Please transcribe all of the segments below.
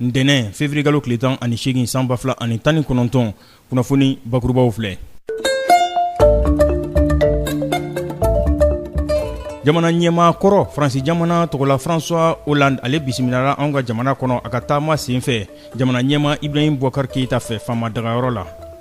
ntɛnɛn feburuyekalo tile tan ani seegin san ba fila ani tan ni kɔnɔntɔn kunnafoni bakurubaw filɛ jamana ɲɛmaa kɔrɔ faransi jamana tɔgɔla francois hollande ale bisimilala anw ka jamana kɔnɔ a ka taama sen fɛ jamana ɲɛmaa ibrahim boubacar keyita fɛ faama dagayɔrɔ la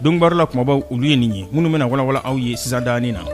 don baro la kumabaw olu ye nin ye minnu bɛna walanwalan aw ye sisan danin na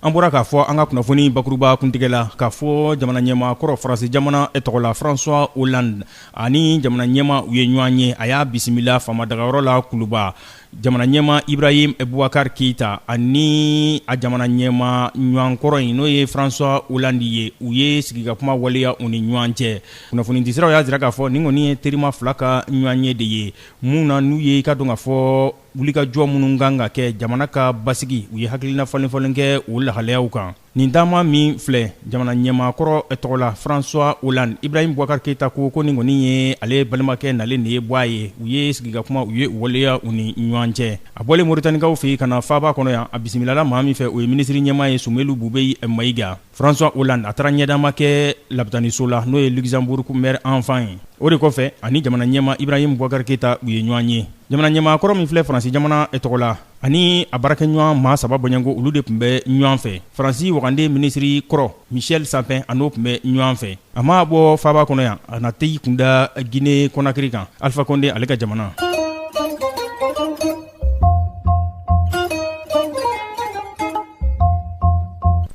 an bɔra k'a fɔ an ka kunnafoni bakuruba kuntigɛ la k'a fɔ jamana ɲɛmaa kɔrɔ faransi jamana e tɔgɔ la francois hollande ani jamana ɲɛmaa u ye ɲɔgɔn ye a y'a bisimila faama dagayɔrɔ la kuluba jamana ɲɛmaa ibrahim bubakari keyita ani a jamana ɲɛmaa ɲɔgɔnkɔrɔ in n'o ye francois hollande ye u ye sigikakuma waleya u ni ɲɔgɔn cɛ kunnafonidisiraw y'a jira k'a fɔ nin kɔni ye terima fila ka ɲɔgɔnye de ye mun na n'u ye i ka dɔn k'a fɔ wulikajɔ minnu kan ka kɛ jamana ka basigi u ye hakilina falenfalen kɛ o lahalayaw kan Nin taama min filɛ jamana ɲɛmaakɔrɔ tɔgɔ la François Hollande Ibrahim Boubacar Keita ko ko nin kɔni ye ale balimakɛ nalen de ye bɔ a ye, u ye sigikakumaw u ye u waleya u ni ɲɔgɔn cɛ. A bɔlen Moritanikaw fɛ yen ka na faaba kɔnɔ yan, a bisimilala maa min fɛ, o ye minisiri ɲɛmaa ye Soumeylou Boubèye Maïga. François Hollande a taara ɲɛdama kɛ lapitaniso la, n'o ye Luxembourg mère enfant ye. O de kɔfɛ, a ni jamana ɲɛmaa Ibrahim Boubacar Keita u ye ɲɔgɔn ye. Jamana ɲɛmaakɔrɔ min filɛ Faransi jamana tɔgɔ la, ani a baarakɛɲɔgɔn maa saba bɔɲɔgɔnko olu de tun bɛ ɲɔgɔn fɛ faransi waganden minisiri kɔrɔ michel sapin a n'o tun bɛ ɲɔgɔn fɛ a maa bɔ faaba kɔnɔ yan a na t'i kunda gine konakiri kan alifa kɔnde ale ka jamana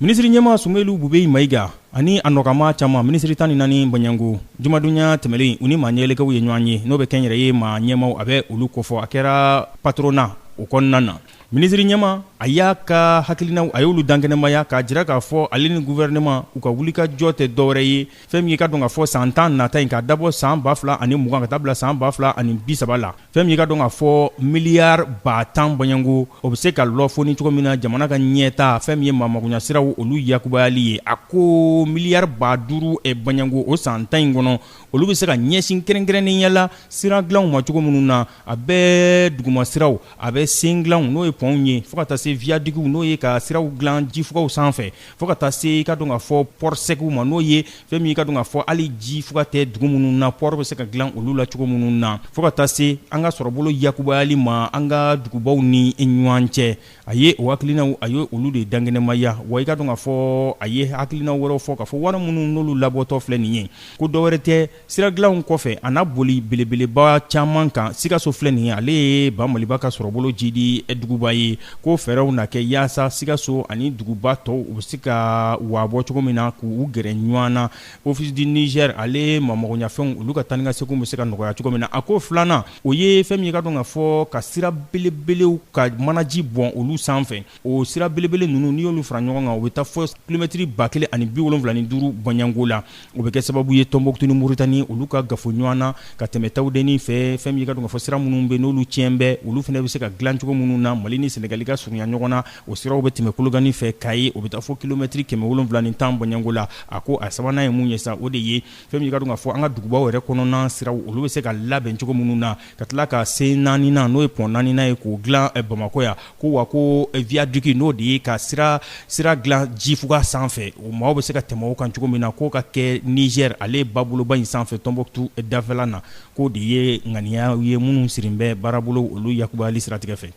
minisiri ɲɛmaa sumelu bubɛyi mayiga ani a nɔkanmaa caman minisiri tan ni naani bɔɲɔgɔnko jumadonya tɛmɛlen u ni maa ɲɛelekaw ye ɲɔgɔn ye n'o bɛ kɛnyɛrɛye maa ɲɛmaaw a bɛ olu kofɔ a kɛra patronat o kɔnɔna na minisiri ɲɛmaa a y'a ka hakilinaw a y'olu dankɛnɛmaya k'a jira k'a fɔ ale ni guvɛrɛnɛma u ka wulikajɔ tɛ dɔwɛrɛ ye fɛn min ye ka dɔn k'a fɔ san tan nata in k'a dabɔ san ba fila ani mugan ka taa bila san ba fila ani bi saba la fɛn min ye i ka dɔn k'a fɔ miliyari ba tan bɔɲɔgɔnko, o bɛ se ka lafoni cogo min na jamana ka ɲɛtaa fɛn min ye maamagoɲɛsiraw olu yakubayali ye, a ko miliyari ba duuru bɔɲɔgɔnko o san tan in kɔnɔ, olu bɛ se ka ɲɛsin kɛrɛnkɛrɛnnenya la sira dilanw ma cogo minnu na, a bɛ dugumasiraw, a bɛ sɛn dilanw n'o ye pɔnw ye fo ka taa se wiyadikiw n'o ye ka siraw dilan jifugaw sanfɛ. fo ka taa se i ka dɔn k'a fɔ pɔri sɛkiw ma n'o ye fɛn min i ka dɔn k'a fɔ hali jifuga tɛ dugu minnu na pɔri bɛ se ka dilan olu la cogo minnu na fo ka taa se an ka sɔrɔbolo yakubayali ma an ka dugubaw ni ɲɔgɔn cɛ a ye o hakilinaw a ye olu de dankɛnɛmaya wa i ka dɔn k'a fɔ a ye hakilina wɛrɛw fɔ k'a fɔ wari minnu n'olu labɔtɔ filɛ nin ye ko dɔwɛrɛ tɛ sira dilanw kɔfɛ a na boli belebeleba caman kan sikaso filɛ nin ye ale ye ba maliba ka sɔrɔbolo jidi duguba ye ko fɛɛrɛw na kɛ yaasa sikaso ani duguba tɔw u bɛ se ka waabɔ cogo min na k'u gɛrɛ ɲɔgɔn na office du niger ale maamagoɲafɛnw olu ka taanikaseginw bɛ se ka nɔgɔya cogo min na a ko filanan o ye fɛn min ye i ka dɔn k'a fɔ ka sira belebelew ka manaji bɔn olu sanfɛ o sira belebele ninnu n'i y'olu fara ɲɔgɔn kan u bɛ taa fɔ kilomɛtɛrɛ ba kelen ani bi wolonwula ni duuru bɔɲɔgɔnko la o bɛ kɛ sababu ye tɔnbɔkutu ni moritani olu ka gafo ɲɔgɔn na ka tɛmɛ tawudennin fɛ fɛn min ye i ka dɔn k'a fɔ sira minnu bɛ yen n'olu tiɲɛ bɛ olu fana bɛ se ka dilan cogo minnu na mali ni senegali ka surunya ɲɔgɔn na o siraw bɛ tɛmɛ kolokani fɛ kayi o bɛ taa fɔ kilomɛtɛrɛ kɛmɛ wolonwula ni tan bɔɲɔgɔnko la a ko a sabanan ye mun ye sa o de ye fɛn min ye i ka dɔn k'a fɔ an ka dugubaw yɛrɛ kɔnɔna siraw olu bɛ se ka labɛn cogo minnu na ka tila ka se naaninan n'o ye pɔn naaninan ye k'o dilan bamakɔ yan ko wa ko viyadiki n'o de ye ka sira sira dilan jifuga sanfɛ o maaw bɛ se ka tɛmɛ o kan cogo min na k'o ka kɛ nizɛri ale baboloba in sanfɛ tɔnbɔkutu dafɛla na k'o de ye ŋaniya ye minnu sirilen bɛ baarabolo olu yakubayali siratigɛ fɛ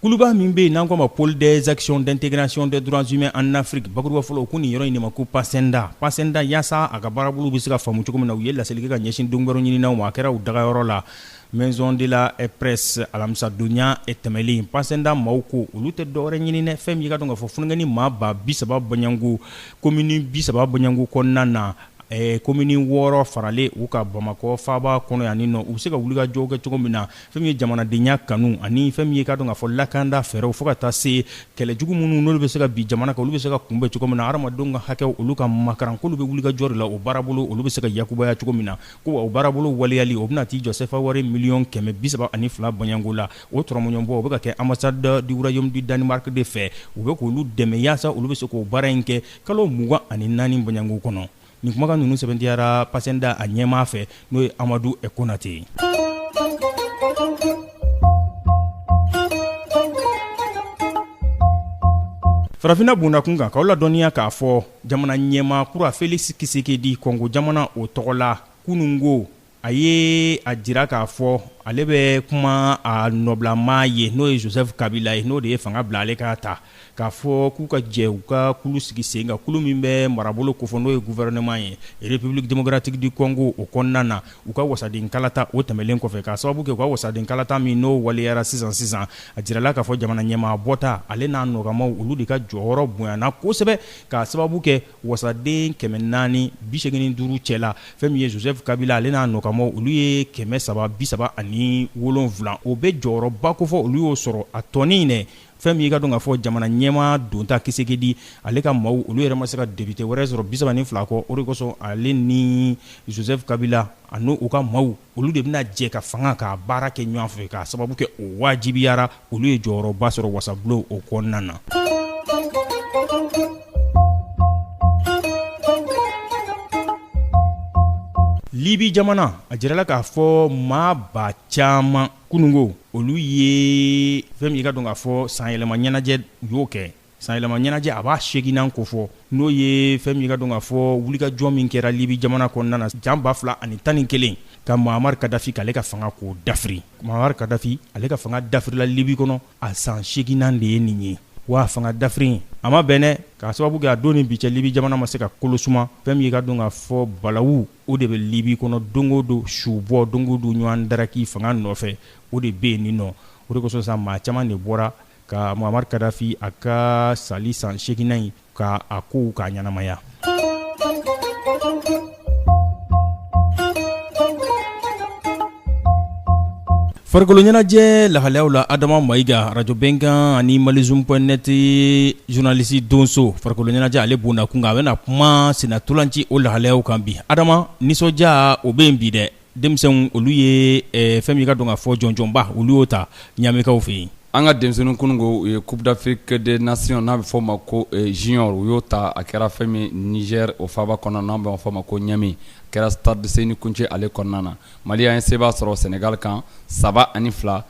Kuluba min bɛ yen n'an ko a ma Pôle des actions d'intégration des droits humains en Afrique bakurubafɔ la, u ko nin yɔrɔ in de ma ko PACINDHA, PACINDHA yaasa a ka baarabolo bɛ se ka faamu cogo min na, u ye laseli kɛ ka ɲɛsin donkibaru ɲininaw ma, a kɛra u dagayɔrɔ la maison de la presse alamisadonya tɛmɛlen, PACINDHA maaw ko olu tɛ dɔwɛrɛ ɲini dɛ, fɛn min ye i ka dɔn k'a fɔ funankɛnin maa ba 30 bɔɲɔgɔnko commune 30 bɔɲɔgɔnko kɔnɔna na komini wɔɔrɔ faralen u kan bamakɔ faaba kɔnɔ yan nɔ u bɛ se ka wulikajɔ kɛ cogo min na fɛn min ye jamanadenya kanu ani fɛn min ye ka dɔn k'a fɔ lakanda fɛɛrɛw fo ka taa se kɛlɛ jugu minnu n'olu bɛ se ka bin jamana kan olu bɛ se ka kunbɛn cogo min na hadamadenw ka hakɛ olu ka makarankulu bɛ wulikajɔ la o baarabolo olu bɛ se ka yakubaya cogo min na ko o baarabolo waleyali o bɛna t'i jɔ sefa wari miliyɔn kɛmɛ bi saba ani fila bɔɲɔgɔnko la o tɔrɔmɔɲɔgɔnbɔ o bɛ ka kɛ ambassade du royaume du danemark de fɛ u bɛ k'olu dɛmɛ yaasa olu bɛ se k'o baara in kɛ Kalo 24 bɔɲɔgɔnko kɔnɔ, nin kumakan ninnu sɛbɛntiyara PACINDHA a ɲɛmaa fɛ n'o ye Amadu Konate ye. Farafinna bondakun kan, k'aw ladɔnniya k'a fɔ jamana ɲɛmaa kura Félix Tshisekedi, Kongo jamana, o tɔgɔ la kunungo, a ye a jira k'a fɔ ale bɛ kuma a nɔbilamaa ye n'o ye joseph kabila ye n'o de ye fanga bila ale k'a ta k'a fɔ k'u ka jɛ u ka kulu sigi sen kan kulu min bɛ marabolo kofɔ n'o ye gouvernement ye république démocratique du congo o kɔnɔna na u ka wasaden kalata o tɛmɛlen kɔfɛ k'a sababu kɛ u ka wasaden kalata min n'o waleyara sisan sisan a jirala k'a fɔ jamana ɲɛmaa bɔta ale n'a nɔkanmaaw olu de ka jɔyɔrɔ bonyana kosɛbɛ k'a sababu kɛ wasaden kɛmɛ naani bisegin ni duuru cɛla fɛn min ye joseph kabila ale n'a nɔkanmaaw olu ye kɛmɛ saba bisaba ani wolonwula o bɛ jɔyɔrɔba kofɔ olu y'o sɔrɔ a tɔnin dɛ fɛn min ye k'a dɔn k'a fɔ jamana ɲɛmaa donta tshisekedi ale ka maaw olu yɛrɛ ma se ka député wɛrɛ sɔrɔ bisaba ni fila kɔ o de kosɔn ale ni joseph kabila ani u ka maaw olu de bɛna jɛ ka fanga ka baara kɛ ɲɔgɔn fɛ k'a sababu kɛ o wajibiyara olu ye jɔyɔrɔba sɔrɔ wasabulon o kɔnɔna na libi jamana a jirala k'a fɔ maaba caman kununko olu ye fɛn min ye k'a dɔn k'a fɔ sanyɛlɛma ɲɛnajɛ u y'o kɛ Sanyɛlɛma ɲɛnajɛ a b'a seginnan kofɔ n'o ye fɛn min ye k'a dɔn k'a fɔ wulikajɔ min kɛra libi jamana kɔnɔna na san ba fila ani tan ni kelen ka muammar kadhafi ale ka fanga k'o dafiri muammar kadhafi ale ka fanga dafirila libi kɔnɔ a san seginnan de ye nin ye waa fanga dafiri in a ma bɛn k'a sababu kɛ a don ni bi cɛ libi jamana ma se ka kolosuma fɛn y'i k'a dɔn k'a fɔ balawu o de bɛ libi kɔnɔ don o don su bɔ don o don ɲɔgɔn daraki fanga nɔfɛ o de bɛ yen nin nɔ o de kosɔn sa maa caman de bɔra ka muammar kadhafi a ka sali san seginnan in k'a kow k'a ɲɛnamaya farikolo ɲɛnajɛ lahalayaw la adama mayiga arajo bɛnkan ani malizum point net journaliste donso farikolo ɲɛnajɛ ale bonna kun kan a bɛna kuma senna ntolaci o lahalayaw kan bi adama nisɔndiya o bɛ yen bi dɛ denmisɛnw olu ye eh, fɛn min ye k'a dɔn k'a fɔ jɔnjɔnba olu y'o ta ɲamikaw fɛ yen an ka denmisɛnninw kununko u ye coupe d'afrique des nations n'a bɛ fɔ ma ko eh, junior u y'o ta a kɛra fɛn min niger o faaba kɔnɔ n'a bɛ fɔ ma ko ɲami a kɛra stade seyni kountché ale kɔnɔna na mali an ye seba sɔrɔ senegal kan saba ani fila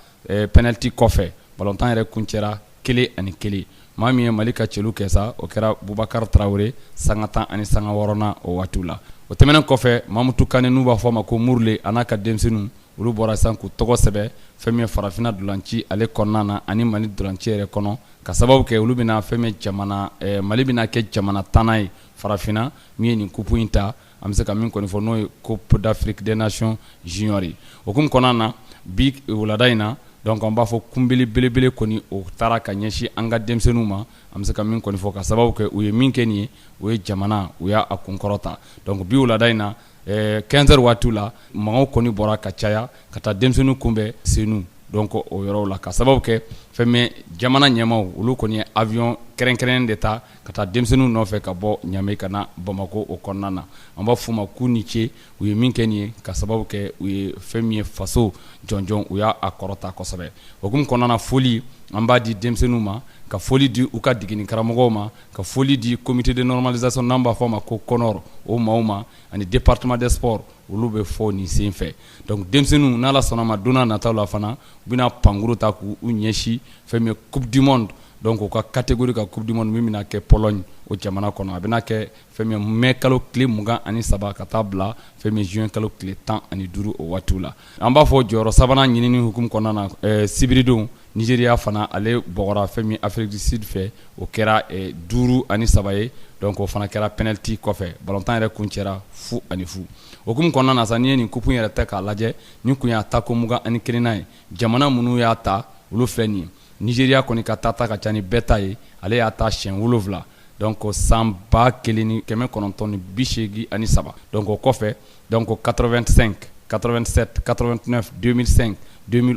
penaliti kɔfɛ balontan yɛrɛ kuncɛra kelen ani kelen maa min ye mali ka cɛlu kɛ sa o kɛra bubakari tarawele sanga tan ani sanga wɔɔrɔnan o waatiw la o tɛmɛnen kɔfɛ mamutu kane n'u b'a fɔ a ma ko murule a n'a ka denmisɛnninw olu bɔra sisan k'u tɔgɔ sɛbɛn fɛn min ye farafinna ntolaci ale kɔnɔna na ani mali ntolaci yɛrɛ kɔnɔ k'a sababu kɛ olu bɛna fɛn min jamana mali bɛna kɛ jamana tannan ye farafinna min ye nin coupe in ta an bɛ se ka min kɔni fɔ n'o ye coupe d'afrique des nations junior ye o kun kɔnɔna na bi wulada in na donc an b'a fɔ kunbɛnli belebele kɔni o taara ka ɲɛsin an ka denmisɛnninw ma an bɛ se ka min kɔni fɔ k'a sababu kɛ u ye min kɛ nin ye u ye jamana u y'a kunkɔrɔta donc bi wulada in na quinze heures waatiw la mɔgɔw kɔni bɔra ka caya ka taa denmisɛnninw kunbɛn senu donc o yɔrɔw la k'a sababu kɛ fɛn min jamana ɲɛmaaw olu kɔni ye awiyɔn kɛrɛnkɛrɛn de ta ka taa denmisɛnninw nɔfɛ ka bɔ Niamey ka na bamakɔ o kɔnɔna na an b'a f'u ma k'u ni ce u ye min kɛ nin ye ka sababu kɛ u ye fɛn min ye faso jɔnjɔn u y'a kɔrɔta kosɛbɛ o hukumu kɔnɔna na foli an b'a di denmisɛnninw ma ka foli di u ka degeni karamɔgɔw ma ka foli di comité de normalisation n'an b'a fɔ ma ko CONOR o maaw ma ani département des sports olu bɛ fo nin sen fɛ donc denmisɛnninw n'Ala sɔnn'a ma don n'a nataw la fana u bɛna pankurun ta k'u ɲɛsin fɛn min ye coupe du monde donc u ka catégorie ka coupe du monde min bɛna kɛ Pologne o jamana kɔnɔ a bɛna kɛ fɛn min ye mai kalo tile mugan ani saba ka taa bila fɛn min ye juin kalo tile tan ani duuru o waatiw la an b'a fɔ jɔyɔrɔ sabanan ɲinini hukumu kɔnɔna na ɛɛ sibiridon Nigeria fana ale bɔgɔra fɛn min ye Afrique du Sud fɛ o kɛra duuru ani saba ye donc o fana kɛra penalty kɔfɛ balontan yɛrɛ kuncɛra fu ani fu o hukumu kɔnɔna na sa n'i ye nin coupe in yɛrɛ ta k'a lajɛ nin kun y'a tako mugan ani kelennan ye jamana minnu y'a ta olu filɛ nin ye Nieriya kɔni ka taa ta ka ca ni bɛɛ ta ye ale y'a ta siyɛn wolonwula dɔn kɔ san ba kelen ni kɛmɛ kɔnɔntɔn ni bi seegin ani saba dɔn kɔ kɔfɛ dɔn kɔ kato2sɛn kato2sɛ kato2s donmisɛn don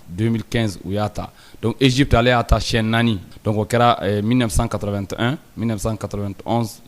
donso u y'a ta dɔn ezp ale y'a ta siyɛn naani dɔnku kɛra minɛnsan kato2 minɛnsan kato2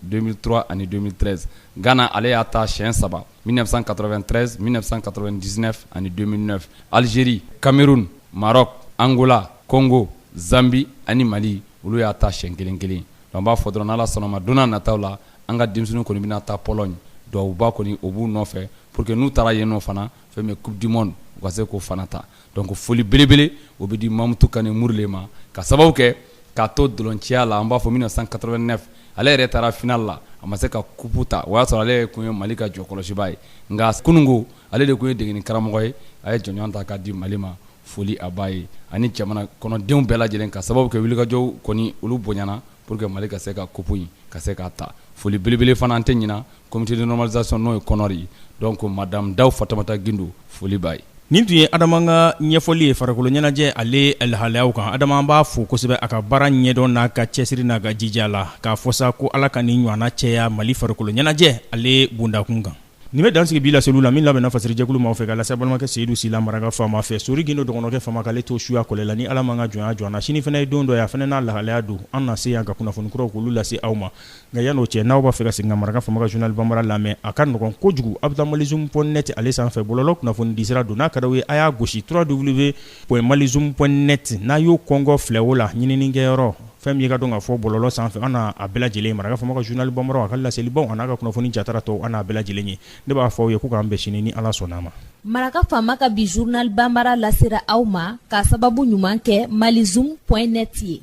donsoura ani donsorez gana ale y'a ta siyɛn saba 1993 1999 ani 2009 Algérie Cameroun Maroc Angola Congo Zambie ani Mali olu y'a ta siyɛn kelen kelen donc an b'a fɔ dɔrɔn n'Ala sɔnn'a ma don n'a nataw la an ka denmisɛnninw kɔni bɛna taa Pologne duwawuba kɔni o b'u nɔfɛ pour que n'u taara yen nɔ fana fɛn min ye coupe du monde u ka se k'o fana ta donc foli belebele o bɛ di Mamutu Kane Murle ma ka sababu kɛ k'a to dolonciya la an b'a fɔ 1989 ale yɛrɛ taara final la a ma se ka coupe ta o y'a sɔrɔ ale kun ye Mali ka jɔkɔlɔsibaa ye nka kununko ale de kun ye degeni karamɔgɔ ye a ye jɔnjɔn ta k'a di Mali ma foli a b'a ye ani jamana kɔnɔdenw bɛɛ lajɛlen ka sababu kɛ wulikajɔw kɔni olu bonyana pour que Mali ka se ka coupe in ka se k'a ta foli belebele fana an tɛ ɲina Comité de normalisation n'o ye CONOR ye donc madame Dawu Fatumata Gindo foli b'a ye. Nin tun ye Adama ka ɲɛfɔli ye farikolo ɲɛnajɛ ale lahalayaw kan. Adama an b'a fo kosɛbɛ a ka baara ɲɛdɔn n'a ka cɛsiri n'a ka jija la, k'a fɔ sa ko Ala ka nin ɲɔana caya Mali farikolo ɲɛnajɛ ale bondakun kan. Nin bɛ dan sigi bi laseliw la, min labɛnna fasiri jɛkulu maaw fɛ, ka lase aw balimakɛ Seyidu Sila Maraka Fama fɛ. Sori Gindo dɔgɔnɔkɛ Fama k'ale to suya kɔlɛ la, ni Ala m'an ka jɔnya jɔ an na. Sini fana ye don dɔ ye, a fana n'a lahalaya don, an na se yan ka kunnafoni kuraw k'olu lase aw ma. Nka yan n'o cɛ n'aw b'a fɛ ka segin ka Maraka Fama ka journal bambara lamɛn a ka nɔgɔn kojugu aw bɛ taa malizoom point net ale sanfɛ bɔlɔlɔ kunnafoni disira don n'a ka d'aw ye a y'a gosi trois w point malizoom point net n'a y'o kɔnkɔn filɛ o la ɲininikɛyɔrɔ fɛn min ye ka don ka fɔ bɔlɔlɔ sanfɛ aw n'a bɛɛ lajɛlen ye Maraka Fama ka journal bambara a ka laselibaw n'a ka kunnafoni jatara tɔ aw n'a bɛɛ lajɛlen ye ne b'a fɔ aw ye ko k'an bɛn sini ni ala sɔnna ma maraka faama ka bi journal banbara lasera aw ma k'a sababu ɲuman kɛ malizoom point net ye